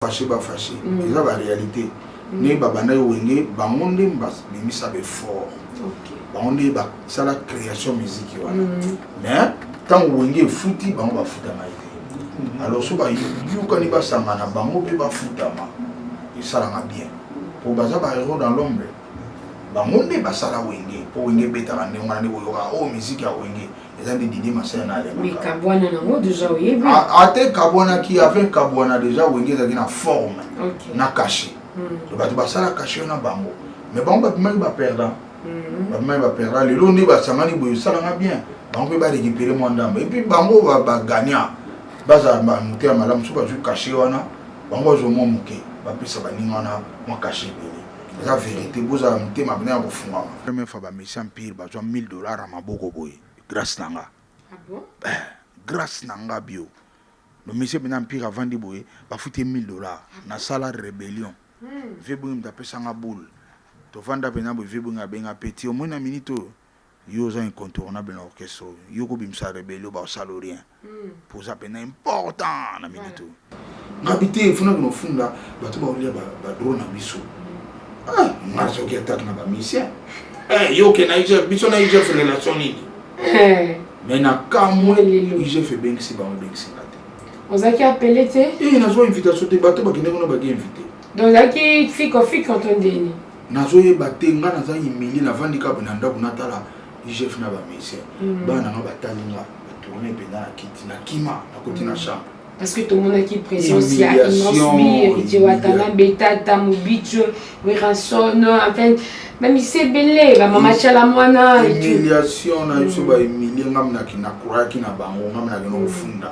fache ba fache mm. eza ba réalité mm. ndenge babandaki wenge bango nde babimisa befort bango nde basala création musique wana mm. mais ntango wenge efuti bango bafutama ye te alors so bayokani basangana bango mpe bafutama esalaka bien mpo baza ba héros dans l'ombre bango nde basala wenge mpo wenge ebetaka ndenge wana nde koyoka oyo oh, miziki ya wenge eza nde didi masina na alemekabwana nango deja oyebi ate kabwanaki ave kabwana deja wenge ezalaki na forme na kashe hmm. bato basala kashe na bango mais bango babimaki baperdant hmm. babimaki baperdant lelo nde basangani boye esalanga bien bango mpe barekipere mwa ndambo epuis bango bagagnant bazala bamote ya malamu soki bazwi kashe wana bango bazwa mwa moke bapesa baninga wana mwa kashe ebele eza verite bozala motema bina ya kofungama première fois bamesi empire bazwa 1000 dollar ya maboko boye grâce na nga ah bon? eh, grâce na nga bio nomesi bina empire avandi boye bafuti ye 1000 dollar ah nasala rébellion hmm. vebongi moto apesa nga boule tovanda mpena boye vebongi abenga peti omoni na minute oyo yo oza incontournable na orchestre oyo yo kobimisa rebelio bakosala rien hmm. mpo oza mpena important na minute oyo ngabi te funa kuna ofunda bato baolia badro na biso ah, nga soki atake na bamisien eh, yo oke na igf biso na igf relation nini eh. mais na kamwe igf ebengisi bango ebengisi nga te ozalaki apele te e nazwa invitation te bato bakende kuna baki invité donc ozalaki fiko fiko to ndeni nazo yeba te nga naza humilier na vandi kaka na ndaku natala IGF na ba musiciens mm. bana nanga batali nga ba tourner penda na kiti na kima na koti na mm. chambre parce que tomonaki présence ya immense bi héritier watana betata mobicho werrason enfin bamisi ebele bamama cala mwana humiliation na biso bahumilie nga minaki nakuraki na bango nga minaki na kofunda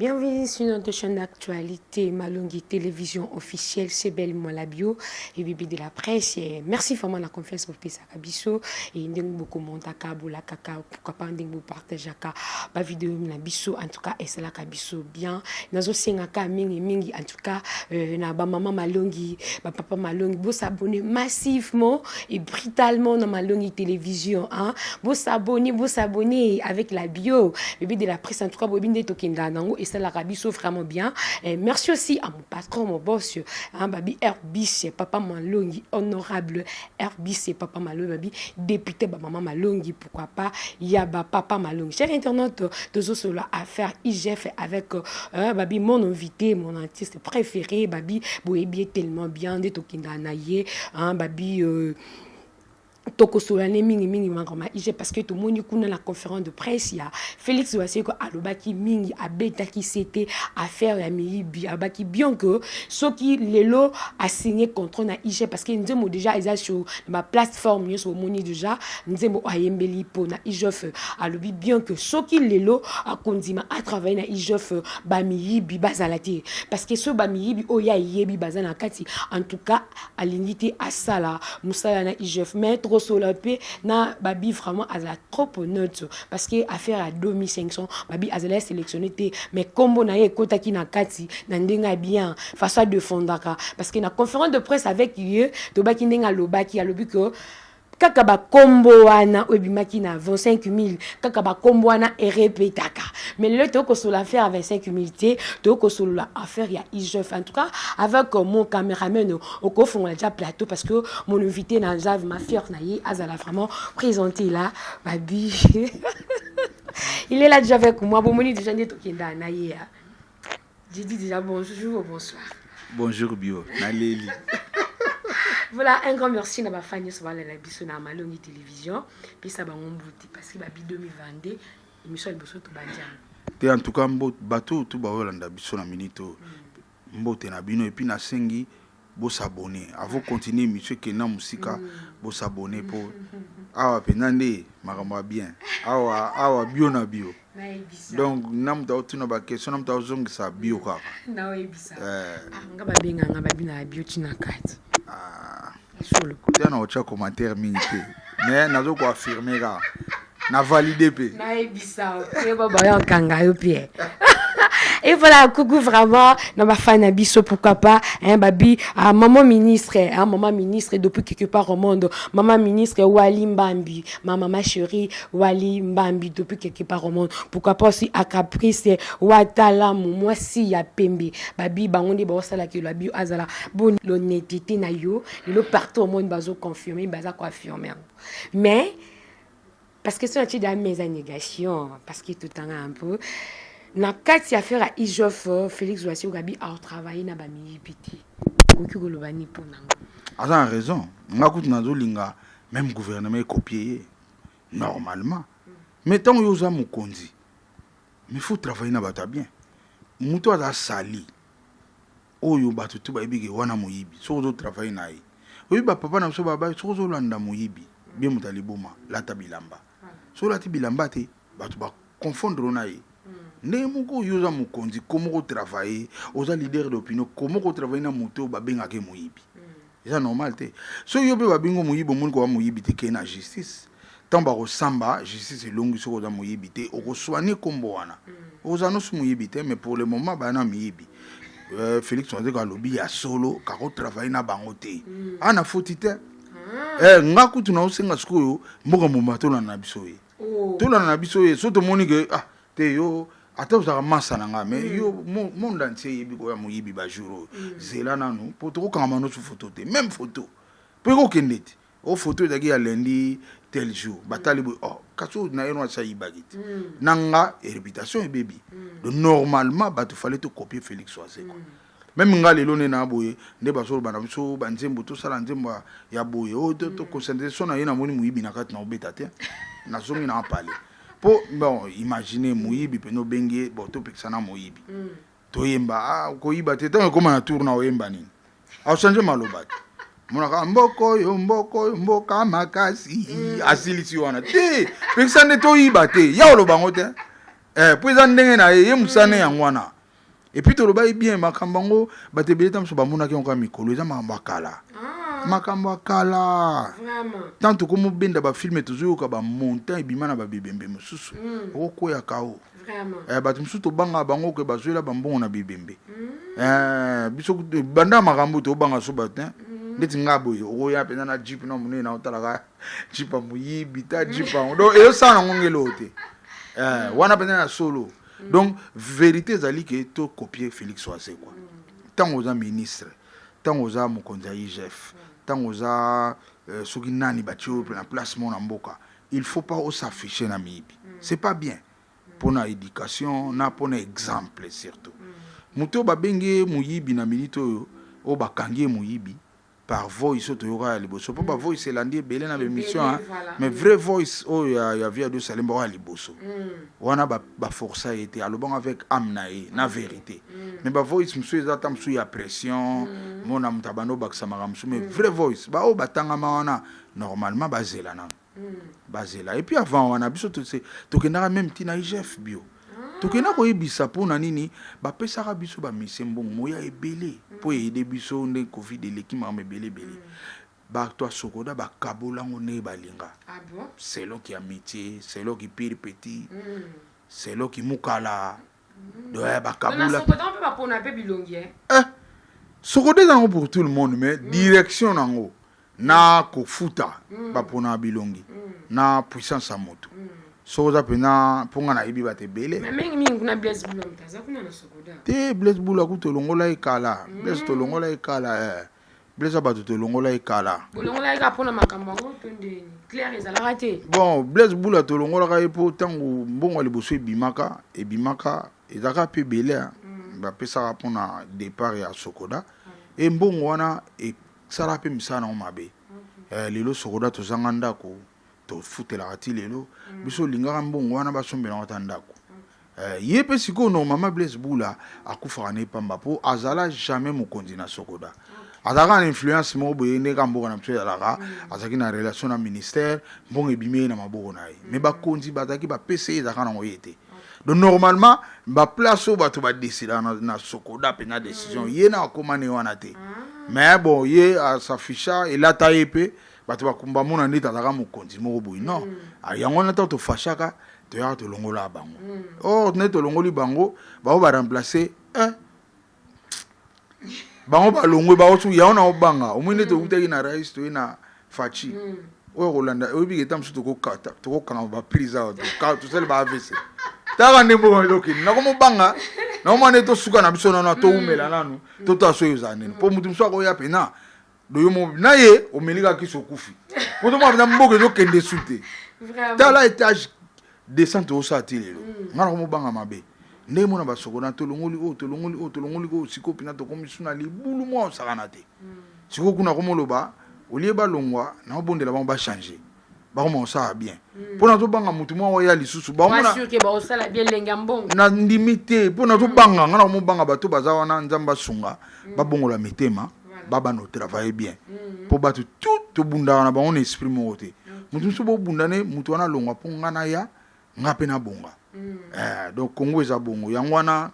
Bienvenue sur notre chaîne d'actualité Malongi Télévision officielle, c'est Belle Malabio et Bibi de la presse. Et merci vraiment la confiance pour Pesa Kabiso et ndeng beaucoup monta kabula kaka pourquoi pas ndeng vous partage ka ba vidéo na biso en tout cas et cela kabiso bien. Nazo senga ka mingi mingi en tout cas euh, na ba maman malongi ba papa malongi bo s'abonner massivement et brutalement na malongi télévision hein bo s'abonner bo s'abonner avec la bio bébé de la presse en tout cas bobi nde tokenda nango et ça la rabiso vraiment bien et euh, merci aussi à mon patron mon boss hein babi Herbis papa malongi honorable Herbis papa malongi babi député ba maman malongi pourquoi pas ya ba papa malongi cher internaute tozosolola affaire igf avec euh, babi mon invité mon artiste préféré babi boyebi ye tellement bien nde tokendaka na ye hein, babi euh, tokosolola ne mingimingi makambo ma ige parce que tomoni kuna na conférence de presse ya félix waseko alobaki mingi abetaki sete affaire ya miyibi alobaki bien que soki lelo asigne contrat na ige parce que nzembo déjà eza sur na baplateforme nyonso bomoni déjà nzembo ayembeli mpo na igf alobi bien que soki lelo akondima atravaille na igf bamiyibi bazala te parce que so bamiyibi oyo ye ayebi baza na kati en tout cas alingi te asala mosala na igf mais trosola mpe na babi vraiment azala trop honnête parce que affaire ya 2500 babi azali ya sélectionné te mais nkombo na ye ekotaki na kati na ndenge ya bien façon adefendaka parce que na conférence de presse avec ye tobaki ndenge alobaki alobi que kaka bakombo wana oyo ebimaki na 25000 kaka bakombo wana erepetaka mais lelo toyei kosolola affaire ya 25000 te toyei kosolola affaire ya igf en tout cas avec euh, mon cameraman okofongola ja plateau parce que mon invité na aza ma fière na ye azala vraiment présente la babi il est là déjà avec moi bomoni déjà nde tokenda na ye J'ai dit déjà bonjour ou bonsoir. Bonjour Bio, naleli. voilà, un grand merci na bafani nyonso balela biso na Malongi Télévision. Pesa bango mbuti parce que babi 2022 émission liboso tobandi yango. Te en tout cas mbo bato oyo tu baolanda biso na minute oyo. Mm. Mbote na bino epuis nasengi bo s'abonner avant continuer monsieur kenda musika bo s'abonner po awa pena nde makambo ya bien awa awa bio na bio donc na moto aotuna baquestion na moto aozongisa bio kaka eh. ah, nga babenganga babinaka bio tina kati ah. te na otya commentaire mingi te mais nazokoaffirme kaka na valide mpe nayebisa yeba bayo akanga yo mpe et voilà coucou vraiment na bafan na biso pourquoi pas hein, babi ah, maman ministre hein, maman ministre depuis quelque part au monde maman ministre wali mbambi ma maman chérie wali mbambi depuis quelque part au monde pourquoi pas aussi à caprice watalamu mwasi ya pembe babi bango nde baosalaka elo abi azala boni l'honnêteté na yo lelo partout au monde bazo confirme baza koaffirme yango mais parce que son atida meza négation parce que tout en un peu na kati ya faire ijof euh, félix wasi ogabi a travailler na bamiyibi te okoki koloba ni mpo nango aza na raison nga kutu nazolinga même gouvernement ekopie ye normalement mais ntango yo oza mokonzi mais faut travailler na bato ya bien moto aza sali Oyo batu tout bayebi ke wana moyibi soki ozo travailler na ye oyebi ba papa na biso ba bayi soki ozo landa moyibi bien moto ya liboma lata bilamba soki olati bilamba te batu ba confondre yo na ye ndenge moko yo oza mokonzi koma oko travailler oza leader d'opinion koma oko travailler na moto oyo ba bengaka ye moyibi eza normal te so yo mpe babingo moyibi omoni koba moyibi te kei na justice ntango bakosamba justice elongi soki oza moyibi te okoswani nkombo wana mm. oza nosi moyibi te mais pour le moment baya na miyibi euh, félix wanzeko alobi ya solo kakotravaille na bango te mm. ana foti te ah. eh, nga kutu naosenga sikoyo mboka mobimba tolanda na biso ye oh. tolanda na biso ye so tomoni ke ah te yo ata ozalaka masa na ngai mais mm. yo monde entier eyebi koya moyibi bajour oyo mm. zela nanu mpo tokokangama nosu foto te même foto mpo ekokende te o oh, foto ezalaki ya lundi tel jour batali boye oh kasi oyo na ye no asi ayibaki te hmm. na nga reputation ebebi hmm. donc normalement bato fale tokopie félix wazekwa hmm. Meme nga lelo nde na boye nde bazoloba na biso ba nzembo tosala nzembo ya- ya boye oyo to- to conscientise so na ye namoni moyibi na kati na obeta te nazongi na pale po bon imagine moyibi pene obengi ye bon topekisa na moyibi toyemba ah, koyiba te ntango ekoma na tour na oyemba nini achange maloba te monaka mboko oyo mboko oyo mboka makasi asilisi wana te pekisa nde toyiba te ya oloba yango te eh, po eza ndenge na ye ye mosane yango wana Et puis tolobaki bien makambo yango bato ebele ntango mosusu bamonaki yango kaka mikolo eza makambo ya kala ah. makambo ya kala ntango tokomobenda bafilme tozoyoka bamontant ebima na babebembe mosusu mm. okokweyaka o eh, bato mosusu tobangaka bango ke bazwela bambongo na bebembe mm. eh, biso banda makambo tobanga so bato mm. ndeti ngai boye okoya mpenza na jip na monene na otalaka jipa moyibi ta jipa yango donc eyosala nango ngeloo te eh, wana mpenza na solo mm. donc verité ezali ke to copier félix wazekwa ntango oza ministre ntango oza mokonzi ya igf ntango oza euh, soki nani batie oyo na place mo na mboka il faut pas osaffiche na miyibi mm. c'est pas bien mpo na éducation na mpo na exemple surtout mm. moto oyo babengi ye moyibi na minute oyo oyo bakangi ye moyibi par voice oyo toyoka ya liboso mpo ba mm. voice elandi ebele na baémission hein. mais vrai voice oyo ya, ya via de salemba oyo ya liboso mm. wana baforsa ye te alobanga avec ame na ye na mm. vérité mais ba voice mosusu eza ata mosusu ya pression mona moto abanda obakisamaka mosusu mais vrai voice baoyo batangama wana normalement bazela nano bazela epuis avant wana biso tokendaka meme ti na igf bio tokenda koyebisa mpo na nini bapesaka biso bamisi mbongo moya ebele mpo eyede biso nde covid eleki mama ebele ebele bato ya sokoda bakabola yango ndenge balinga ah selon ki amitié selon ki pire petit mm. selon ki mukala doya bakabula eh, sokoto eza yango pour tout le monde mais mm. direction nango na kofuta mm. bapona bilongi mm. na puissance ya moto mm. soki oza mpenza mpo ngai nayebi bato ebele te blaise bula kutu olongola ye kala mm. blaise tolongola ye kala eh. Blaise ya bato tolongola ye kala. Bolongola ye kaka mpo na makambo yango to ndeni claire ezalaka te. Bon Blaise Bula tolongolaka ye mpo ntango mbongo ya liboso ebimaka ebimaka ezalaka mpe ebele mm. bapesaka mpo na départ ya Sokoda mm. e mbongo wana esalaka mpe misala nango mabe okay. Eh, lelo Sokoda tozanga ndako tofutelaka ti lelo mm. biso olingaka mbongo wana basombelaka ta ndako eh, ye mpe sikoyo normalement blaise bula akufaka na ye pamba mpo azala jamais mokonzi na sokoda azalaka na influence moko boye ndeka mboka na biso ezalaka mm. azalaki na relation na ministère mbongo ebimi ye na maboko na ye mm. mais bakonzi bazalaki bapesa ye ezalaka nango ye te donc normalement baplace oyo bato badesida na, na sokoda mpe na décision ye na akoma ne wana te ah. mais bon ye asafisha elata ye mpe bato bakumba mona nde tazalaka mokonzi moko boye non mm. ah, yango wana ntango tofashaka toyaka tolongola bango mm. or nde tolongoli bango bango baremplace eh. bango balongwe bango su yango na obanga omoi nde mm. tokutaki na rais toye na faci mm. oyo kolanda oyebika eta mosusu tokokanga baprise awa tosali ba avc taka nde mboka elokini nakomobanga nakomona nde tosuka na biso nano toumela mm. nanu totala soki ozala nini mpo motu mosusu akoya mpena do yo moko na ye omeli kaka kisi okufi poto mwa na mboka ezokende su te tala etage descente osala ti lelo mm. nga na komobanga mabe ndenge mona basokona tolongoli oyo tolongoli oyo tolongoli oyo sikoyo mpena tokomi su na libulu mwa osakana te mm. sikoyo kuna komoloba olie balongwa na obondela bango bachange bakoma kosala bien hmm. mpo nazobanga motu mwa oya lisusu na ndimi te mpo nazobanga ngai nakomobanga bato baza wana nzambe asunga hmm. babongola mitema babana otravaille bien hmm. mpo bato tout tobundaka na bango na esprit moko te motu mosusu bobunda ne motu wana alongwa mpo ngai naya ngai mpe nabonga eh, donc congo eza bongo yango wana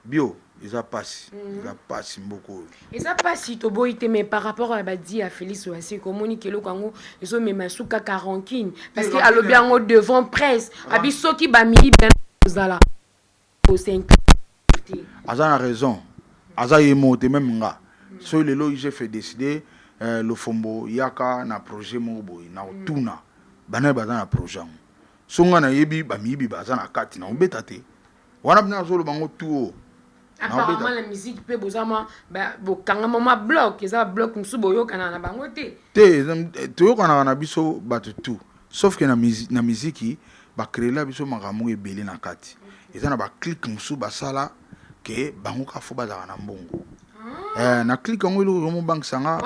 bio eza pasi mm. eza pasi mboka oyo eza pasi toboyi te mais par rapport ya badi ya félix oyo aseki omoni ke eloko yango ezomema su kaka rankine parce que alobi yango devant presse abi soki bamiyibe ozala osenki aza na raison aza ye moko te meme nga mm. soki lelo igf décide eh, lofombo yaka na projet moko boye na otuna mm. banaye baza na projet yango so nga nayebi bamiyibi baza na kati na obeta te wana bino azoloba yango tout haut apparemment la musique mpe boza mwa bokangama mwa bloc eza babloc mosusu boyokanaka na bango te te eh, toyokanaka na biso bato tout sauf ke na miziki bacreela biso makambo ebele na kati eza na baclike mosusu basala ke bango kaka fo bazalaka na mbongo ah. eh, na clike yango eloko ezomobangisa nga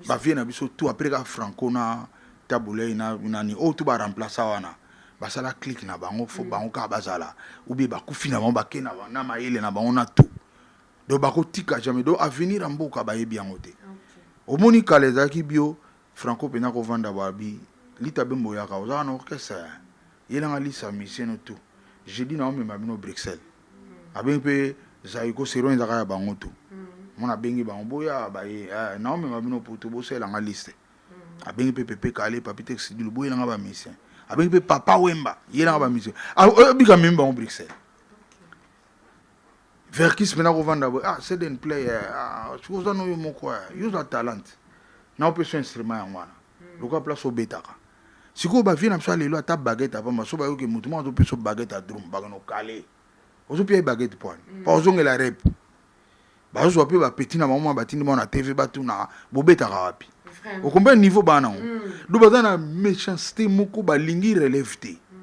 bavie na biso tout apres kaka franco na tabulei na nani oyo oh, tu baremplaça wana basala clique na bango fo mm. bango kaka bazala oubie bakufi na bango bake na, na mayele na bango na tout donc bakotika jamais donc avenir ya mboka bayebi yango te okay. omoni kala ezalaki bio franco mpena kovanda babi lita bembo yaka ozalaka na orchestre yelanga lisa miseno tout jeudi na omema bino bruxelles mm. abengi mpe zaiko seron ezalaka ya bango tout mm. mona abengi bango boya baye eh, na omema bino poto bosalela nga liste abengi mpe pepe kale papi texidi lobo ye nanga bamisien abengi mpe papa wemba ye nanga bamisien ah, oh, bika mimi bango bruxelles verkis mpena kovanda boye ah seden play eh, ah, soki oza noyo moko eh, yo oza talente na opesa instrument yango wana hmm. lokola place obetaka sikoyo bavie na biso ya lelo ata bagete apamba so bayoki motu moko azopesa bagete ya drum bakano kale ozopia ye bagete pwani hmm. pa ozongela rep bazwa mpe bapeti na bango ma batindi bango na tv batuna bobetaka wapi okombe niveau bana yango mm. do baza na méchanceté moko balingi relève te mm.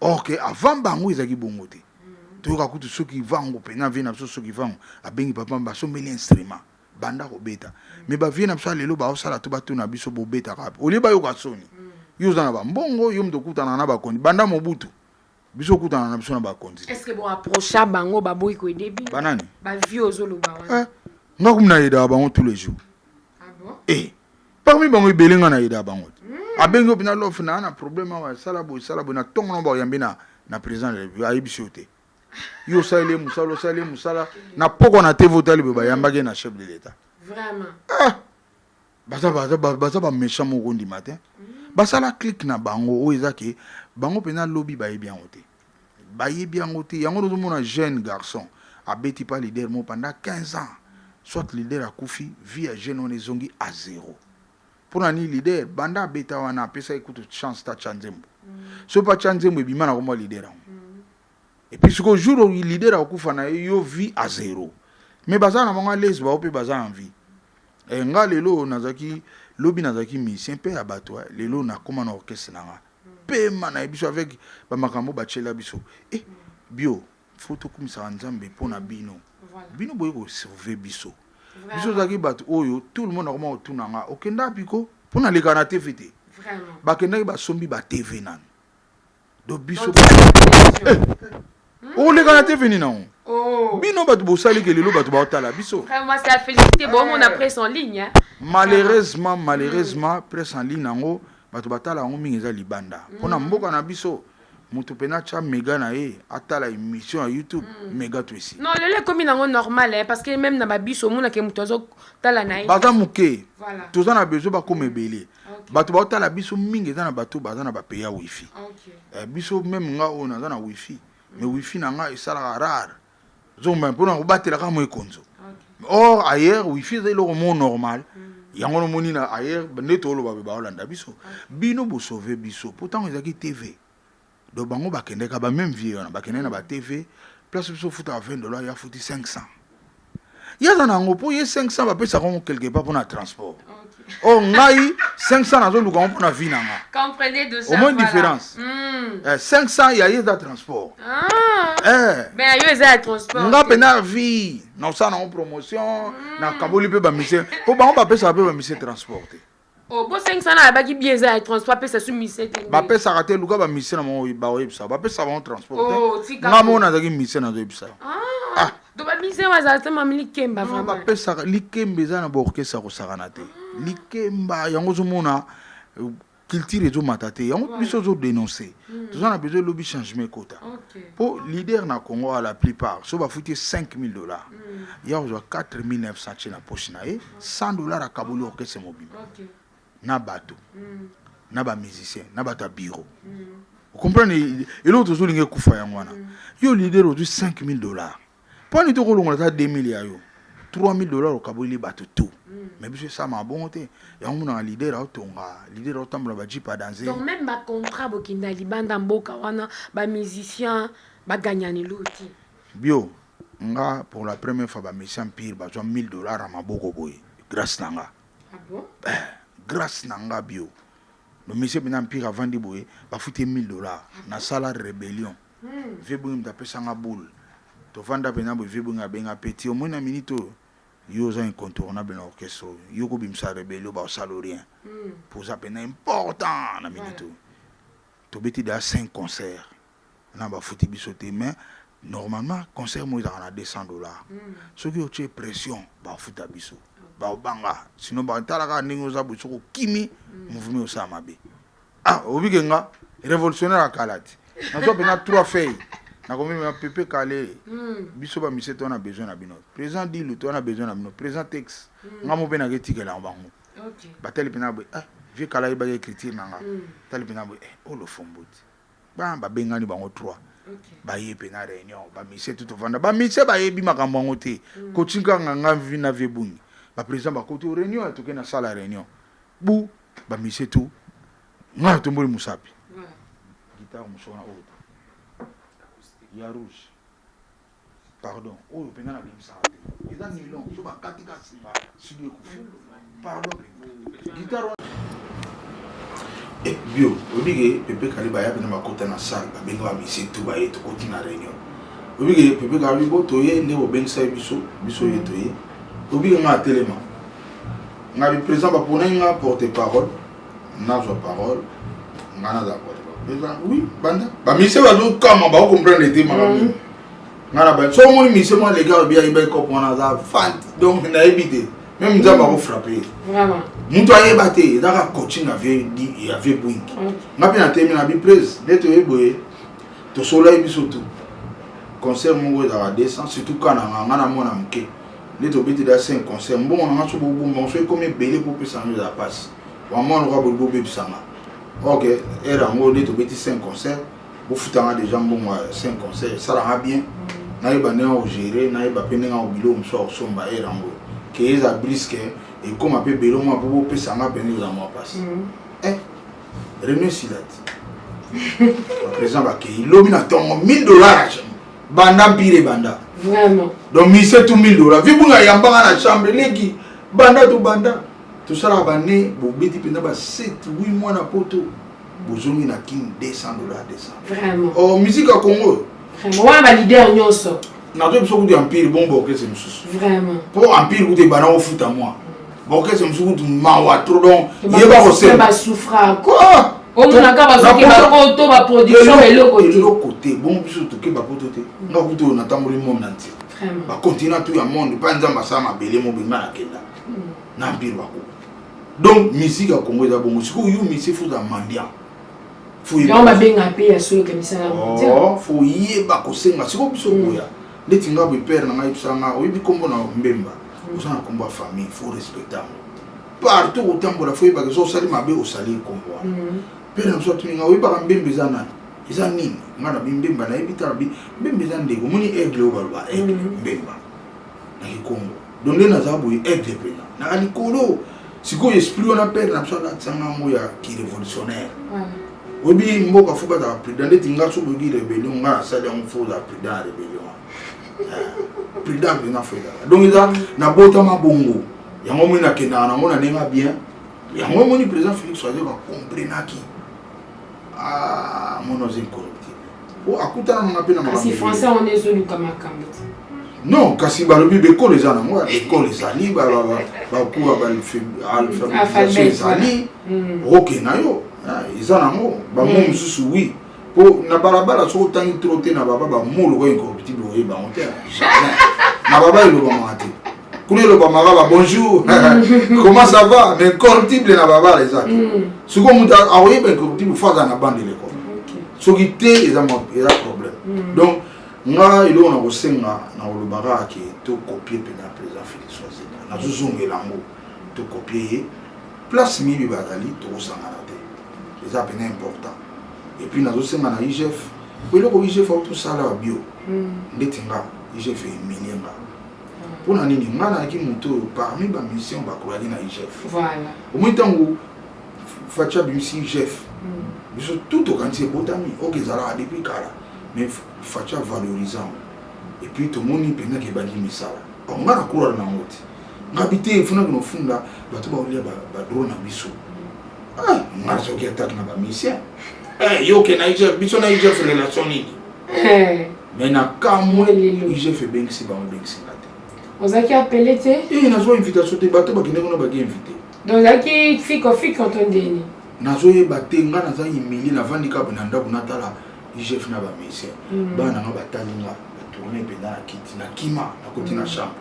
or ke avant bango ezalaki bongo te mm. toyoka kutu soki vango mpenza vie na biso soki vango abengi papa basombeli instrument banda kobeta me bavie na biso ya lelo baosala to batuna biso bobetaka wapi olie bayoka soni yo oza na bambongo yo moto okutana na bakonzi banda mobutu biso okutana na biso na bakonzi est ce que bo approcha bango baboyi ko aider bino banani ba vie ozoloba wana eh, nga kumi na aidaka bango tous les jours ah bon eh parmi bango ebele nga na aidaka bango te hmm. abengi yo mpena lof naa na problème awa sala boye sala boye na ntongo na baoyambi na na président de la république ayebisi yo te yo osaleli ye mosala osaleli ye mosala na pokwa na te votali boye bayambaki ye na chef de l'état vraiment ah baza baza baza ba méchant moko ndima te basala clique na bango oyo eza ke bango mpenza lobi bayebi yango te bayebi yango te yango tozomona jeune garçon abeti pa leader mo pendant 15 ans soit leader akufi vie ya jeune wana ezongi a zero mpo na nini leader banda abeta wana apesaki kutu chance ta tya nzembo mm. soki mpe atya nzembo ebima na kombo ya leader yango Et puis siko jour au leader akufa na yo vie à zéro. Mais baza na bango à l'aise ba pe baza en vie. Et eh, nga lelo nazaki lobi nazaki musicien pe ya bato eh. lelo na koma na orchestre na nga. Pe mana eh, biso avec ba makambo ba chela biso. Eh bio faut to kumisa nzambe po na bino. Bino boye ko sauver biso. Biso zaki bato oyo tout le monde akoma otuna nga okenda piko po na lekana te fete. Vraiment. Bakendaki basombi ba TV nani. do biso olekana te veni nango oh. bino bato bosali ke lelo bato baotala biso malheureusement malheureusement mm. presse en ligne yango bato batala yango mingi eza libanda mpo na mm. mboka na biso moto mpe natya mega na ye atala émission ya youtube mm. mega twesi non lelo ekomi nango normal eh, parce que meme na babiso omonake moto azotala na ye baza moke toza na besoin bakoma ebele okay. bato baotala biso mingi eza na bato baza na bapays ya wifi okay. eh, biso meme nga oyo naza na wifi mm. mais wifi na nga esalaka rare zomba mpo na kobatela kaka moekonzo okay. or ailleurs wifi eza eloko mo normal mm. yango nomoni na ailleurs nde toloba mpe baolanda biso okay. bino bosauve biso mpo ntango ezalaki tv donc bango bakendeka ba meme vie wana bakendeki na ba tv place biso ofutaka 20 dollar ye afuti 500 ye aza na yango mpo ye 500 bapesaka yango quelque part mpona transport o oh, ngai 500 nazoluka yango mpona vie na nga omoi différence 500 ya ye eza transport nga mpena vie naosala nango promotion hmm. nakaboli mpe bamise mpo bango bapesaka mpe bamise transport te Oh, bo 500 na abaki bien eza ya transport pesa su mise te. Ba pesa ka te luka ba mise na mo ba oyebisa. Ba pesa ba transport te. Oh, tika. Nga mo na zaki mise na zoyebisa. Ah. Ah. Do ba mise wa za tama likemba vraiment. Ba pesa likemba eza na ba orchestre ko sakana te. Ah. Likemba yango zo mona culture ezo mata te yango biso ozo denoncer hmm. toza na besoin lobi changement ekota mpo leader na congo a la plupart so bafuti ye 5000 dollars hmm. ya kozwa 4900 tie na poche na ye 100 dollars akaboli orchestre mobimba okay. na bato mm. na ba musicien na bato ya bureau mm. okomprendre eloko tozolinga ekufa yango wana mm. yo leader ozwi 5000 dollars mpo ani tokolongola ata 2000 ya yo 3000 dollars okaboleli bato tout mm. mais biso esama bongo te yango monaka lider aotonga lider aotambola bajip adanse donc même bacontrat bokenda libanda mboka wana bamusicien baganyani loti bio Nga pour la première fois ba musiciens empire bazwa 1000 dollars na maboko boye grâce na nga. Ah bon? Eh, grâce na nga bio. Le monsieur bina empire avandi boye bafuti ye 1000 dollars na sala rebellion. Hmm. Vieux Bungi moto apesa nga boule. Tovanda pena boye vieux Bungi abenga petit omoni na minute oyo yo oza incontournable na orchestre oyo yo kobimisa rebellion baosala rien mpo oza mpena important na minute oyo tobeti deja 5 concert na ba futi biso te mais normalement concert mo ezalaka na 200 dollars mm. soki otie pression bafuta biso babanga sino batala kaka ndenge oza boye soki okimi mm. mouvement osala mabe ah obike nga révolutionnaire ya kala te nazwa mpena trois feuilles nakomema pepe kale mm. biso bamise to na besoin na bino président dilu to na besoin na bino président tex mm. nga mo mpe nake etikela yango bango batali mpena boye eh, vieux kala yebaki écriture na nga tali mpena boye eh, olofombo oh, te ba babengani bango trois baye mpe na réunion bamisie tu tovanda bamisie bayebi makambo yango te mm. kotinkanga nga vi na vie bungi baprésident bakoti o réunion ya toke na sala réunion bu bamisie tu nga tomboli mosapi gitare mosuku na oyo ya rouge Pardon, oyo penza na bimisaka te. Eza nilon, so ba kati ka sima, sudi ekufi. Pardon penza. Guitare wana. Et eh, bio, obi ke Pepe Kaliba ya bina makota na salle, ba benga ba misi tout ba ye to koti na réunion. Obi ke Pepe Kaliba bo to ye ne bo benga sa biso, biso ye to ye. Obi ke nga telema. Nga bi présent ba pona nga porte parole. nazwa parole nga nazala koleba oui banda bamise bazokama baokomprendre te makambo mm. nga na bani so omoni mise mwa leka obi ayeba ekope wana aza fan donc nayebi te meme nzambe mm. akofrappe ye moto ayeba te ezaka coaching ya vie bwing nga mpe natemi na biplaise nde toye boye tosololaki biso tu concert moko ezalaka 200 surtout kananga nga na mwana moke nde tobeti da 5 concert mbongo na nga so bobombango so ekomi ebele popesa yango ezala mpasi wamwa lokola boli bobebisanga ok ere yango nde tobeti 5 concert bofutanga deja mbongo ya 5 concert esalanga bien nayeba ndenge ya kogere nayeba mpe ndenge ya kobilo mosusu ya kosomba ere yango ke eza briske ekóma mpe belo mwa mpo bopesa nga mpenza eza mwa mpasi mm. eh, rene silati baprésident bakei lobi na ntongo 1000 dollars banda mpira ebanda vraiment donc mise tu mille dola vi bunga yambanga na chambre eleki banda to banda tosalaka bane bobeti mpenza ba 7 8 mois na poto bozongi na kin 200 dola 200 oh, musike ya congo wana balider nyonso nazoyebi so kutu ya mpire bomba okese mosusu mpo empire kutu ebanda kofuta mwa Bokese musu kutu mawa trop donc yeba ko se ba souffra ko omona ka ba soki ba ko to ba production eloko te eloko te bon biso to ke ba ko to te nga kutu na tamboli monde entier vraiment ba continent tout ya monde pas nzamba sa mabele mo bima na kenda hmm. na mpiro ba ko donc musique ya Congo eza bongo sikoyo yo misi futa mendiant yango babenga mpe ya solo kamisala oh, fo yeba kosenga sikoyo biso koya ndeti nga boye père na ngai yebisa nga oyebi kombo na mbemba oza na kombo ya famille faut respecter yango partout kotambola fo oyebaka eza osali mabe osali ekombo wana mhm. père na biso atuni nga oyebaka mbemba eza nani eza nini nga na bimbemba nayebi tala bi mbemba eza ndeko omoni aigle oyo baloba aigle mhm. mbemba na kikongo donc nde naza boye aigle mpena naka likolo sikoyo esprit wana pere na biso alatisanga yango ya kirevolutionnaire oyebi mboka fo bazala prudent ndeti nga soki oyoki rebellion nga nasali yango fo ozala prudent ya rebellion eh, prudent mpena fo ezala donc eza nabotama bongo yango moi nakendaka nango na ndenge bien yango omoni président félix azoka comprenaki ah, mono oza incorruptible o oh, akutana nanga mpe na kasi français wana ezoluka makambo te non kasi balobi bekolo eza nango ya bekolo ezali bakuba baalphabetisation ezali hmm. oke na yo ah, eza nango bango hmm. mosusu wi mpo na balabala soki otangi tro te na baba bamoloko incorruptible oye bango te jamais na baba elobamaka te kuna elobamaka ba bonjour comment ça va mais corruptible na babala eza te mm. sikoyo moto akoyeba incorruptible fo aza na bande eleko soki te eza problème mm. donc nga eloko na kosenga na kolobaka ke tokopie mpena président félix wazeka nazozongela yango tokopie ye place miyibi bazali tokosangana te eza mpena important epuis nazosenga na igf po eloko igf autosala bio mm. ndeti nga igf emilie nga mpo na nini ngai nayaki moto oyo parmi bamusicien bakolaki na igf omoi ntango faci abimisi igf mm. biso tout tokanisi ebotami oke ezalaka depuis kala mais faci avalorisant epuis tomoni mpenza ke ebandi misala bango ngai nakolala nango te ngai bite efunaki nofunda bato baolia badrone na biso ah, ngai soki atake na bamusicien eh, yoke na igf biso na igf relation nini Eh. mais na kamwe igf ebengisi bango ebengisi nga te ozalaki apele te e nazwa invitation te bato bakende kuna baki invité donc ozalaki fiko fiko to ndeni nazoyeba te nga naza humilie navandi kaka na ndako natala igf na bamusicien hmm. bana nanga batali nga batourne mpenza na kiti na kima nakoti na hmm. chambre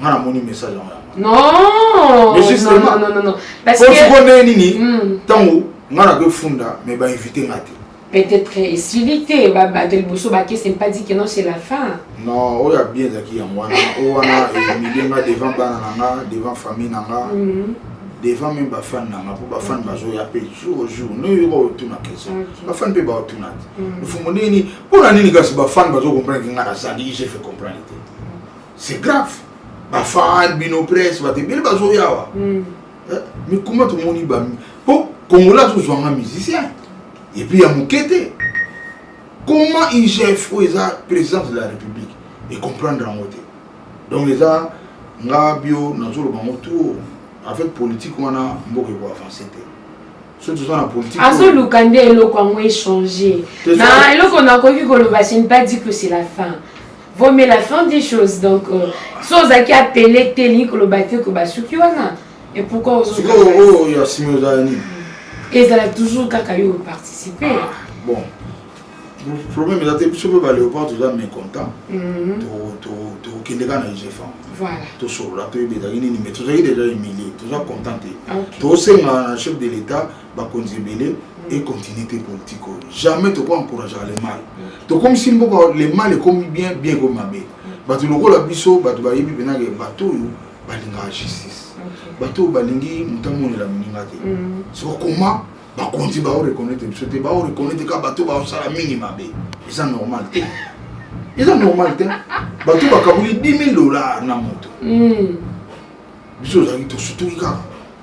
nga namoni message yango ya non mais justement non non non parce que sikoyo ndenge nini ntango hmm. nga na kofunda mais bainvite nga te peut-être esili te bato liboso bakese mpa di que non c'est la fin non oyo ya bien ezalaki yango wana oyo wana emilie nga devant bana na nga devant famille na nga hmm. devant même bafane na nga mpo bafane bazoya mpe jour au jour noyoka otuna question bafane mpe baotuna te hmm. mfumo ndenge nini mpo na nini kasi bafane bazokomprendre ke nga nazali je fait comprendre te c'est grave bafan bino presse bato ebele bazoya awa hmm. eh, mikuma tomoni bami mpo kongola azozwanga musicien epuis ya moke te comment igf oyo eza présidence de la république ecomprendre yango te donc eza nga bio nazoloba yango tour avec politique wana mboka ekoavance te soki toza na politique azoluka nde eloko yango echange na eloko nakoki koloba ce n'est pas dit que c'est la fin Vaut mieux la fin des choses donc euh, si ozalaki apele te elingi koloba te ko basuki wana et pourquoi sikoyo oyo ya simi ozala nini ezala toujours kaka yo oparticipe bon problème eza te biso mpe baléopard toza mécontent mhm. tokokende kaka na ugfam tosolola toyeba ezalaki nini mais tozalaki déjà humilie toza content te tosenga na chef de l'état bakonzi ebele et continuité politique jamais toko encourager le mal tokomisi mboka le mal ekomi bien bien ekomi mabe bato lokola biso bato bayebi mpena ke bato oyo balingaka justice bato oyo balingi moto amonela moninga te mm. soko koma bakonzi bao reconnaitre biso te bao reconnaitre kaka bato baosala mingi mabe eza normal te eza normal te bato bakaboli 10 000 dollars na moto mm. biso ozalaki tosutuki kaka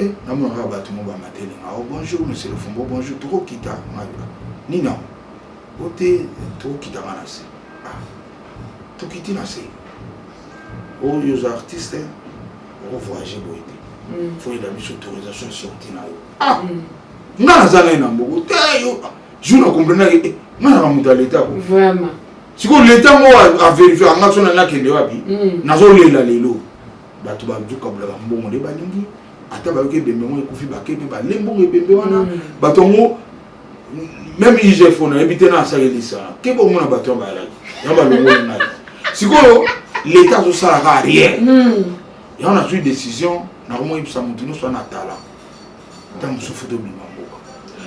Eh, namona kaka bato mo bamateli nga o oh, bonjour monsieur le fumbo bonjour tokokita ngai nini yango o te tokokita nga na se ah, tokiti na se oyo oh, oza artiste okovoyage boye te mm. foyela biso autorisation sorti na yo ah mm. nga naza ngai na mboko te yo jour na comprenaki eh, nga naka moto ya leta ko sikoyo leta ngo averifie anga so na nakende wapi mm. nazolela lelo bato bazokabulaka mbongo nde balingi ata bayoki ebembe yango ekufi bake mpe bale mbongo ebembe wana mm. bato yango meme igfo nayebi te na asalelisa ke bomona bato yango bayalaki yango balongoli ngai sikoyo leta azosalaka rien mm. yango nazwi décision nakomoyebisa moto nyonso wana atala ntango mosusu futa obima mboka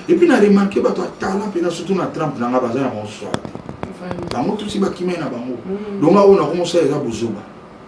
epuis na remarke bato ya tala mpena surtout na trump na ngai baza na bango swa te bango tusi bakimai na bango mm. donga oyo nakomosala eza bozoba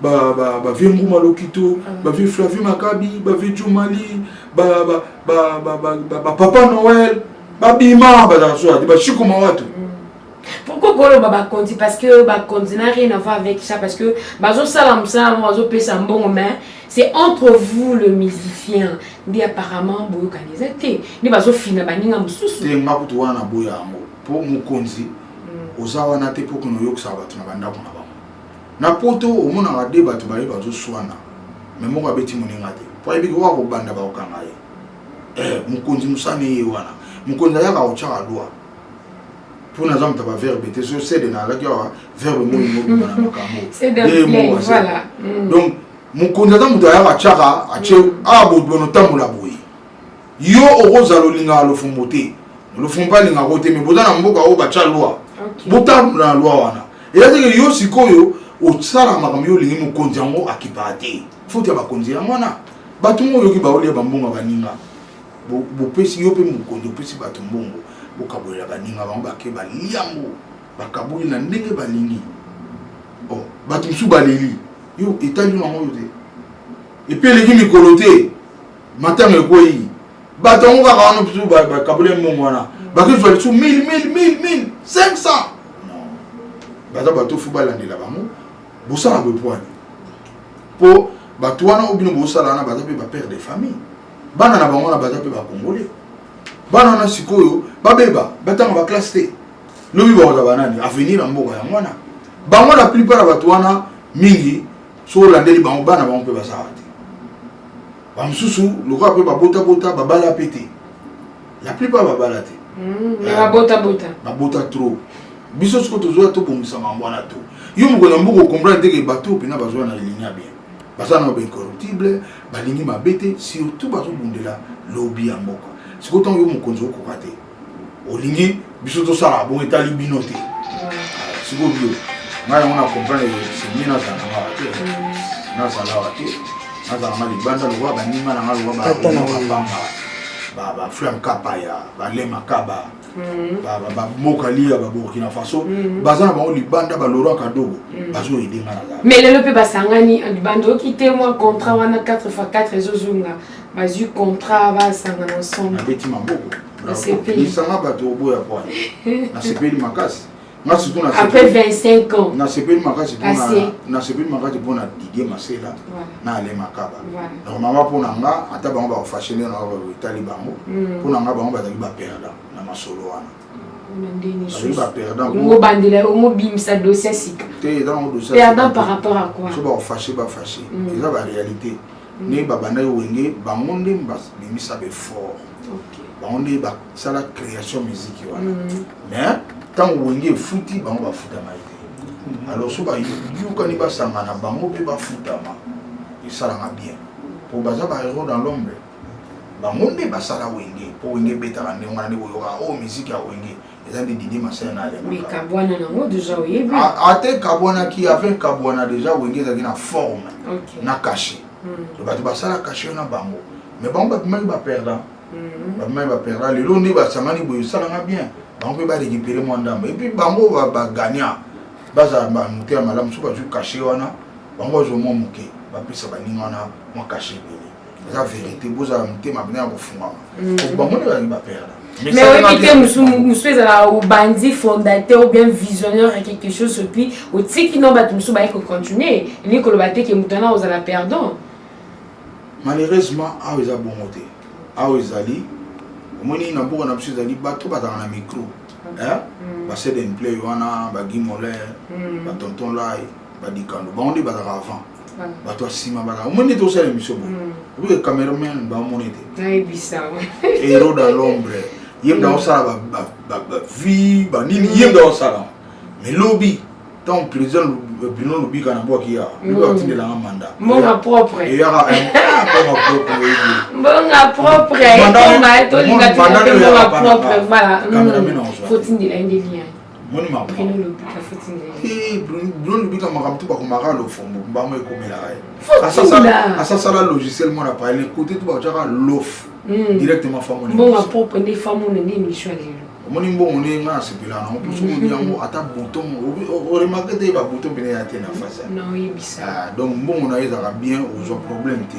ba ba ba vieux Nguma Lokito, ah. ba vieux Flavie Makabi, ba vieux Jumali, ba ba ba ba ba, ba, ba Papa Noël, ba Bima, ba la soirée, ba Chico Mawatu. Mm. Pourquoi koloba bakonzi parce que bakonzi n'a rien à voir avec ça parce que bazosala mosala yango bazopesa mbongo mais c'est entre vous le musicien nde apparemment boyokani eza te nde bazofina baninga mosusu te nga kutu wana boya yango mpo mokonzi mm. oza wana te mpo konoyokisa bato na bandako na Na poto omonaka de bato baye bazoswana me moko abeti moninga te po ayebi oyo akobanda bakokanga ye eh, mokonzi mosani eye wana mokonzi ayaka kotyaka lwa mpo naza moto ya baverbe te so sede nalaki awa verbe moi mobima na makambo mm. donc mokonzi aza moto ayaka atyaka atye awa bobono otambola boye yo okozala olingaka lofumbo te lofumbo mpe alingaka yo te me boza na mboka oyo batya lwa botambola na lwa wana eza teke yo sikoyo osala makambo yo olingi mokonzi yango akipaka te foti ya bakonzi yango wana bato ngo oyoki baolia bambongo baninga bopesi yo mpe mokonzi opesi bato mbongo bokabolela baninga bango bake balia yango bakaboli na ndenge balingi oh, bato mosusu baleli yo etali yo yango oyo te epe eleki mikolo te matanga ekweyi bato yango kaka wana bisu bakabule mbongo wana bakozwa lisu 1500 baza bato fo balandela bango bosala bopwani mpo bato wana oyo bino bosala wana baza mpe bapere de famille bana na bango wana baza mpe bakongole bana wana sikoyo babeba batanga baklasse te lobi bakozala banani avenir ya mboka yango wana bango la plupart ya bato wana mingi soki olandeli bango bana bango mpe baza awa te bamosusu lokola mpe babotabota babala mpe te la plupart babala te hmm, ah, babota trop biso soki tozoya tobongisa mambo wana to yo mokolo ya mbuku okomprendre te ke bato mpena bazoya na linia bien baza na baincorruptible balingi mabe te surtout bazobundela lobi ya mboka sikoyo ntango yo mokonzi okoka te olingi biso tosala bo etali bino te sikoyo bio ngai yango na comprendre semie nazala ngawa te nazala wa te nazala nga libanda lokola baninga na nga lokola baflam kapaya balema kaba bamoka liya baburkina faso baza na bango libanda balorwa kadogo bazoyede nga na mais lelo mpe basangani libanda oki te mwa contrat wana 4 fois 4 ezozonga bazwi contrat basangana ensemble abeti maboko lisanga bato oboya kwa nasepeli makasi nga surtout après 25 ans nasepeli makasi nasepeli makasi mpo na didie masela na ale makaba donc mama mpo na nga ata bango bakofashe nde na etali bango hmm. mpo na nga bango bazali baperda na masolo wana bazali baperda obandela omobimisa dossier sika te eza bango dossier perdant par rapport à quoi so bakofashe bafashe hmm. eza baréalité mm. mm. ndenge babandaki wenge bango nde babimisa befort bango nde basala création musique wana mm. mais ntango wenge efuti bango bafutama ye te mm. alors so bayokani basangana bango mpe bafutama esalaka bien mpo baza bahéros dans l'ombre bango nde basala wenge mpo wenge ebetaka ndenge wana nde koyoka oyo oh, miziki ya wenge eza nde didi masina na alekabwana nango deja oyebi ata ekabwanaki ave ekabwana deja wenge ezalaki na forme na kashe hmm. bato basala kashe na bango mais bango bapimaki baperdant hmm. bapimaki baperdant lelo nde basangani boye esalanga bien bango mpe barekipere mwa ndambo epuis bango bagagna bazala bamote ya malamu soki bazwi kashe wana bango bazwa mwa moke bapesa baninga wana mwa kashe ebele eza verité bozala motema bina ya kofungama mm. bango nde bazali baperda mais oyebi te mosusu ezala obandi fondateur ou bien visionnaire ya quelque chose epuis otiki no bato mosusu baye kocontinue elingi koloba te ke moto wana ozala perdant malheureusement awa eza bongo te awa ezali omoni na mboka na biso ezali bato bazala na micro mm. basedenplay wana bagimoler mm. batonton lai badikando bango nde bazalaka avant bato ya nsima baka omoni ete osala émission bo obi hmm. cameraman bamona ete hero da lombre ye mda osala bavie banini ye mda osala mais lobi ntango président bino lobika na bwaki ya lobi atindelanga mandat mbonga propre eyaka mbonga propre tolinga tolinga mbonga propre voilà hmm. fotindela ye nde lien moni mabruno lubika makambo tu bakomaka lofombo mbango ekomelaka ye asasala logiciel mwana paye na kote tu bakotyaka lof hmm. directement famoni omoni mbongo nde nga nasepela nango mpo soki odi yango ata bouton oremake te ba bouton pene ya te na face ah, donc mbongo na ye ezalaka bien ozwa problème te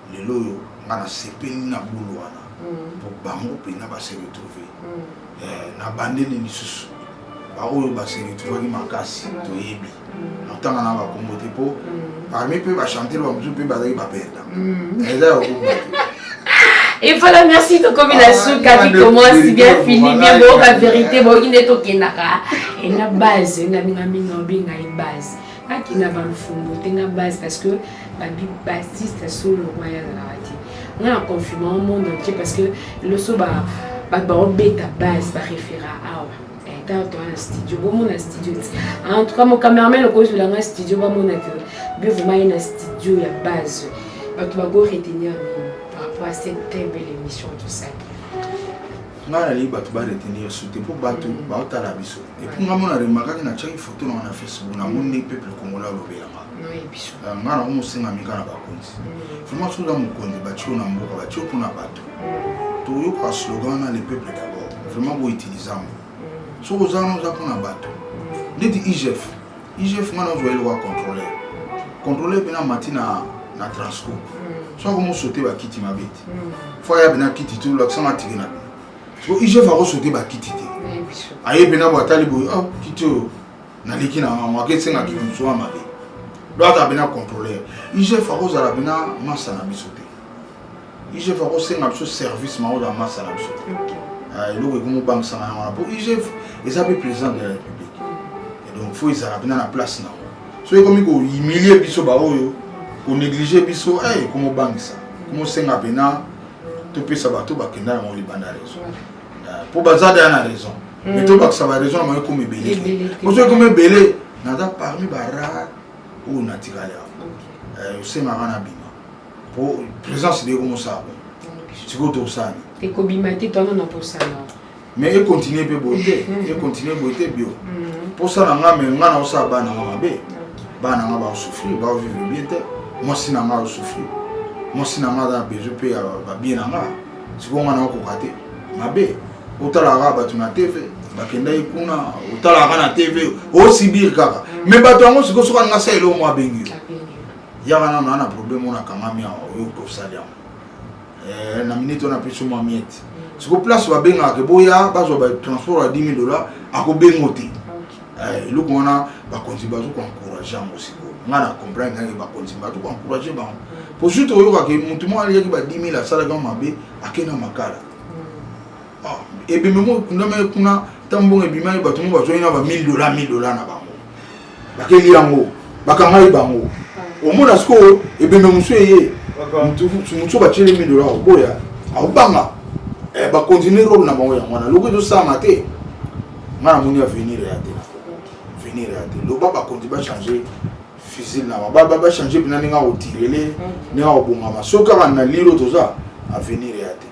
lelo oyo nga nasepeli na bulu wana po bango mpenza base retrouve na bandeli lisusu baoyo base retrouvaki makasi toyebi natanga na bakombo te po parmi mpe bachantere bamosusu mpe bazalaki baperda eza ya okombo te Et voilà, merci Tokomi la soupe, ah, tu commences bien fini, bien beau, la vérité, bon, il est au Kenaka. Et la base, la minga minga, la base. akina balufungo te na base parce que bassiste solo wana azalaka te nga na confirme au monde entier parce que loso bato baobeta base baréféra awa tata toa na studio bomona studio ti en tout cas mon cameraman okozwela nga studio bamona ke bio vraimen ye na studio ya base bato bakoretenir par rapport à cette très belle émission tout ça ngai nalingi bato ba retenir su te mpo bato mm. baotala biso epuis ngai mona remarkaki natiaki foto na wana facebook na moni nde peuple congolais alobelanga euh, ngai nako mosengami kaka na bakonzi mm. vraiment soki oza mokonzi batio na mboka batio mpo na bato mm. toyoka slogan wana le peuple d'abord vraiment boutilize yango soki oza wana oza mpo na bato ndeti igf IGF nga nazwa eloko ya contrôleur contrôleur mpe namati na na transco hmm. soki akomosote bakiti mabe te hmm. fo aya mpe na kiti te olakisanga tike na bino so igf akosote bakiti te aye mpe na bwatali boye ah, kiti oyo naleki na yango ake esenga kiti mosusu ya mabe donc ata mpe na contrôleur igf akozala mpe na masa na biso te igf akosenga biso service mao na masa na biso ah, eloko ekomi obangisanga yango wana mpo igf eza mpe président de la république et donc fo ezala mpena na place na yango soki ekomi kohumilie biso baoyo konéglige biso eh, ekomi obangisa ekomi osenga mpena topesa bato bakenda na yango libanda raison ah, mpo baza deya na raison mais mm. tobakisa baraison na bango ekomi ebele mpo soki ekomi ebele naza parmi barare oyo natikali awa eh, osengaka na bino po présence de comme ça sikoyo tosala ekobima te twana na posana mais econtinue mpe boye te econtinue boye te bio mposa na nga me nga naosala bana nga mabe bana nga baosouffrir baovivre bien te mwasi na nga aosouffrir mwasi na nga aza na besoin mpe ya babie na nga sikoyo nga naokoka te mabe otalaka bato na tv bakendaki kuna otalaka na tv osibir kaka me bato yango sikoyo soki alinga sa eloo mwa abengi yo yaka nano ana problème oyo nakangami awa oyo tosali yango eh, na minute oyo napesi mwa miete mm. siko place babengaka ke boya bazwa batransport ya 10 dollars akobengo te eh, eloko wana bakonzi bazo koencourage yango sikoyo ngai na comprendre kake bakonzi bato koencourage bango mpo mm. surtout oyokake motu moko aliyaki ba 10 000 asalaki yango mabe akenda makala mm. ah, ebememo ekundamaki kuna ntango mbongo ebimaki bato mo bazwaki na ba 1000 dola 1000 dola na bango bakeli yango bakangai bango omona sikoyo ebembe mosusu eye mosusu batyeli mi dola oboya akobanga eh, bakontinue role na bango yango wana loko ezosalama te ngai namoni avenir ya te avenir ya te loba bakonzi bachange fusile na bango bachange mpena ndenge akotirele mm. ndenge akobongama soki kaka na lilo toza avenir ya te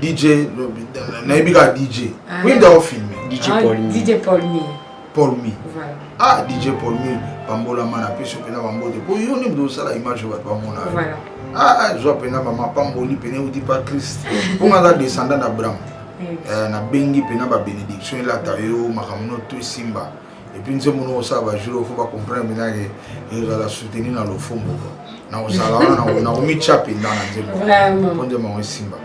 DJ nayebi kaka DJ oui ndako filme DJ Paulmi Paulmi ah DJ Paulmi pambolama na peso mpe na bambote mpo yo nde moto osala image bato bamona ah, ah zwa mpe na bamapamboli mpe neuti pa christ mpo nga aza descendant na abraham eh, nabengi mpe na babenediction elata yo makambo no to esimba et puis nzembo no osala ba jour faut ba comprendre mina ke ezala soutenir na lofombo na kozala wana na komitya mpenza na nzembo mpo nzembo yango esimba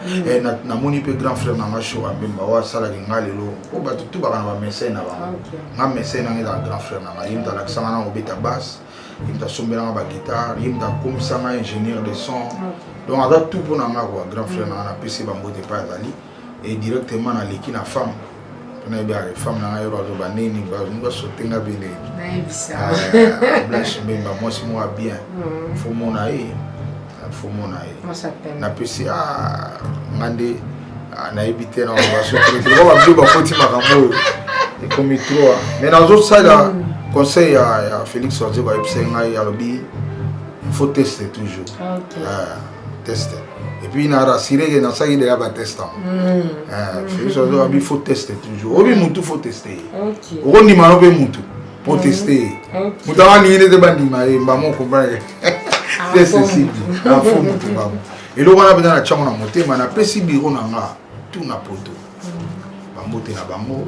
namoni mpe grand frère nanga show abemba oyo asalaki nga lelo oyo bato tu baka na bamesai na bango nga mesai nanga ezala grand frère nanga ye moto alakisanga na kobeta basse ye moto asombelanga baguitare ye moto akomisanga ingénieur de son donc aza tout mpo na nga kua grand frère nanga napesi bango te mpe azali et directement naleki na femme mpona yebi aye femme na ngai bato banini bato basote nga bele blanche mbemba mwasi moko ya bien mm. fo mona ye fo mona ye napesi ah, nga nde ah, nayebi te na basoteloko babio bakoti makambo oyo ekomi troa mai nazosala mm. conseil ya félix waze bayebisai ngai alobi faut teste toujours ah, test et puis na rassurer que nasalaki deja batest yango soki ozo abi faut teste toujours obi mutu faut teste ye okondima no mpe mutu po teste ye moto yango alingi nde te bandima ye mbamo okomprendre teste sibi afo mutu mbamo eloko wana mpenza natyango na motema napesi biro na nga tu na poto bambote na bango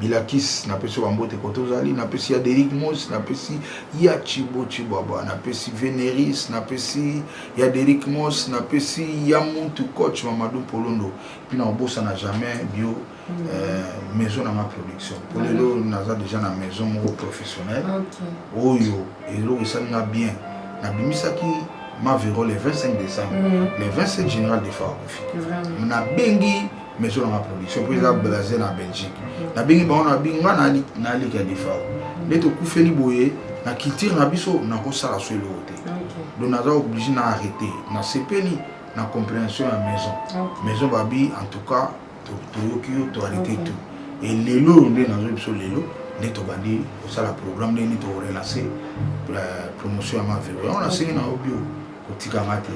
Bilakis, napesi yo bambote kote ozali, napesi ya Derrick Moss, napesi ya Chibo Chibwabwa, napesi Veneris, napesi ya Derrick Moss, napesi ya Muntu coach Mamadou Polondo, puis na obosana jamais bio mm. euh, maison na ma production. Pour mm. lelo naza déjà na maison moko professionnelle. Okay. Oyo eloko esali nga bien. Nabimisaki ma vero le 25 décembre, mm. le 27 général de Farakofi. Nabengi maison na nga production mpo eza blase na belgique nabengi bango na bi nga naleki ya defao nde tokufeli boye na culture na biso nakosala so eloko te donc naza oblige na arrete nasepeli na compréhension ya maison maison babi en tout cas toyoki yo toarrete tout e lelo oyo nde nazo biso lelo nde tobandi kosala programme ndenge nini tokorelance euh, promotion ya mavelo yango nasengi na yo bio kotika nga te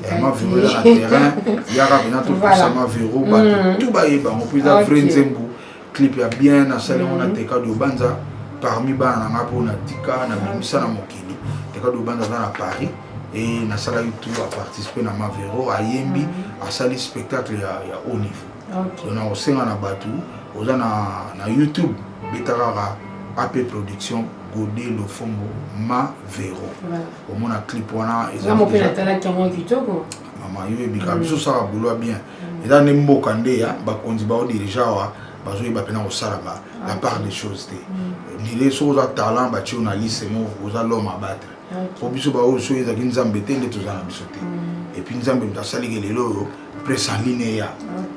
eh, mavero eza na terrain yaka mpena topusa mavero bato mm. tu bayeba yango mpo eza vrai nzembo clip ya bien nasali yango na mm. teka diobanza parmi bana na nga mpo na tika na bimisa na mokili teka diobanza aza na paris e nasalaki tu aparticipe na mavero ayembi mm. asali spectacle ya, ya haut niveau okay. na kosenga na bato oza na, na youtube beta kaka ap production gode lofombo mavero voilà. omona clip wana ezango mpe natalaki yango kitoko mama yo ebika mm. biso osala boulwa bien mm. eza nde mboka nde ya bakonzi bao dirige awa bazoyeba mpena kosalaka ah, la part des choses te mm. ndile soki oza talent batie yo na liste moko oza lome abattre mpo biso baoyo soki ezalaki nzambe te nde toza na biso te epuis nzambe moto asaliki lelo oyo presse en ligne eya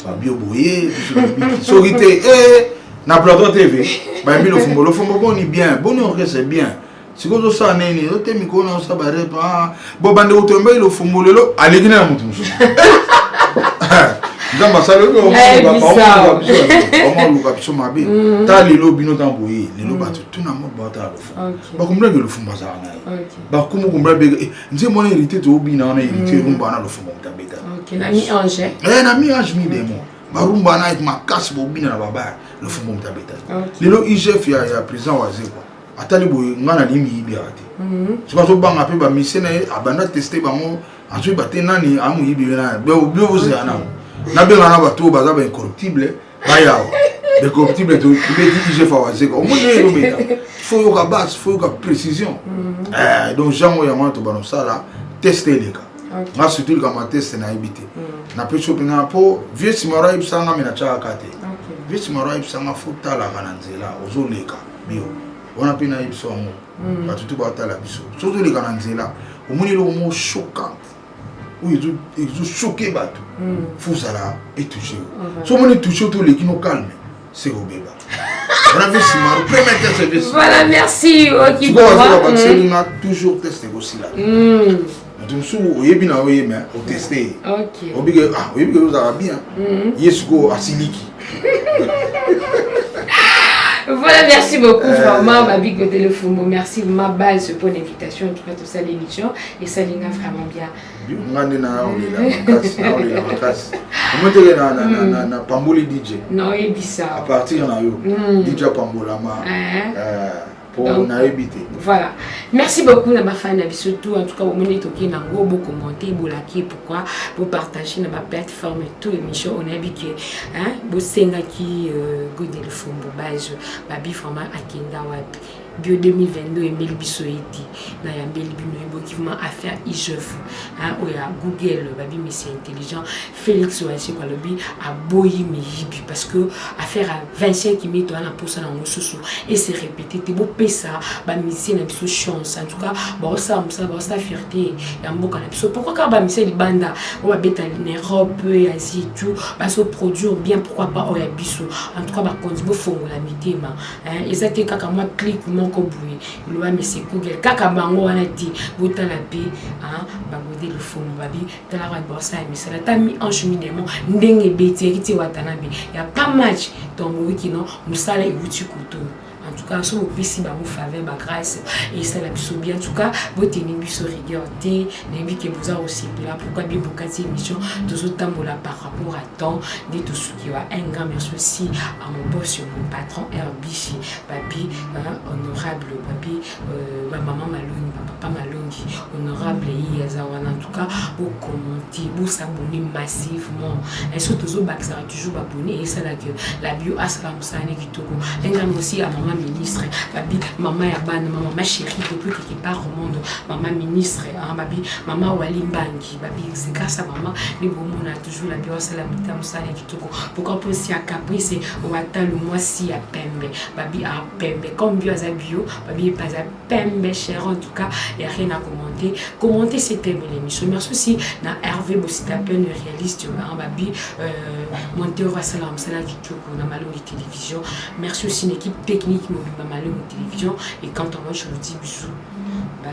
babio boye soki te eh, na plateau tv bayembi lofumbo lofumbo boni bien boni orchestre bien sikoyo ozosala ndenge nini ote mikolo na osala barepe ah, bo bande kotoyamba ilo fumbu lelo aleki na moto mosusu nzambe asali oyobaluka biso mabe mm. ta lelo bino ntango boye lelo mm. bato tuna mo bata lofumu bakombulaki lofumu azala na ye bakumu kombula beka eh, nze mwana hérité toobina wana hérité mm. rumba wana lofumu moto abeta na mi ange eh, mi demo barumba wana makasi bobina na babaya lofumu moto abeta lelo igf ya président wazekwa atali boye nga nalingi miyibi yaka te mhm. soki azobanga mpe bamise na ye abanda teste bango azoyeba te nani amoyibi ye nani bobio bozela nano nabenga na bato oyo baza baincorruptible bayawa baincorruptible tobeti igf awazeka omoni ye elobeta fo yoka base fo yoka précision mhm. eh, donc jango yango wana tobana osala teste eleka nga surtout likambo ya teste nayebi te mhm. napesi yo mpenza mpo vieux simaro ayebisanga me natyaka te vieux simaro ayebisanga fo talaka na nzela ozoleka bio wana mpe nayebi biso yango hmm. bato tu batala biso soki toleka na nzela omoni eloko moko choquante oyo ezochoke bato hmm. fozala etouche yo so omoni touche yo toleki no calme se kobeba wana mpe nsima premier test epe voilà merci okibaakiseli nga toujours test ekosila hmm. moto mosusu oyebi na yo ye me oteste ye oyebi ke ah, ozalaka bien mhm. ye sikoyo asiliki Voilà, merci beaucoup euh... vraiment, ma big téléphone. Merci ma base pour l'invitation. En tout cas, tout ça, l'émission. Et ça, l'ina vraiment bien. ngani na olela makasi na olela makasi omotele na, na, na, na, na pamboli dj na oyebisa à partir na yo mm. dj apambolama uh -huh. uh, Donc, voilà. Merci beaucoup na bafani na biso tout. En tout cas, bomoni toki na ngo bo commenter, bo liker, pourquoi bo partager na ba plateforme tout émission on a bique hein, bo senga ki euh, go de fombo base, ba bi vraiment akenda wapi. bio 2022 emeli biso ye te na yambeli bino eboki vraimen affaire igef oyo ya google babimisi intelligent Felix Wansheko alobi aboyi miyibi parce que affaire ya Vincent Kimito wana mposa na mosusu et se répéter te bopesa bamisie na biso chance en tout cas baosala mosala baosala fierté ya mboka na biso pourquoi kaka bamisie libanda oyo babeta na Europe ya Asie et tout bazo produire bien pourquoi pas oyo ya biso en tout cas bakonzi bofongola mitema eza te kaka mwa clique moko boye eloba mese google kaka bango wana te botala mpe bagode lofomo babi tala ba borsa ya misala ta mi ange mi demo ndenge ebeti yaki te watanabe ya pas match donc boyebi kino mosala ewuti kutu en tout cas soki opesi bango faveur bagrâce esala biso bien en tout cas boteni biso rigueur te nayebi ke boza kosepela pourquoi bie bokati émission tozotambola par rapport à temps nde tosuki wa un grand merci aussi à mon boss mon patron rbc papi honorable papi Euh, ba maman malongi ba papa malongi honorable ye aza wana en tout cas bocommente bosabone massivement esoki tozobakisaka toujours babone esala que la bio asala mosala ne kitoko engambi aussi ya mama ministre babi mama ya bana mama ma chérie depuis quelque part au monde mama ministre babi mama wali mbangi babi c'est grâce à maman nde bomona toujours labi wasala mita mosala ya kitoko pourquoi mposi ya caprice owatalu mwasi ya pembe babi a pembe comme bio aza bio babi epa aza pembe cher en tout cas ya rien à commenter commenter c'est pembe l'émission merci aussi na herve bosita pene réaliste maran babi euh, monteur wasala mosala ya kitoko na malongi télévision merci aussi na équipe technique mobimba malongi télévision et quand on mange je vous dis bisous bye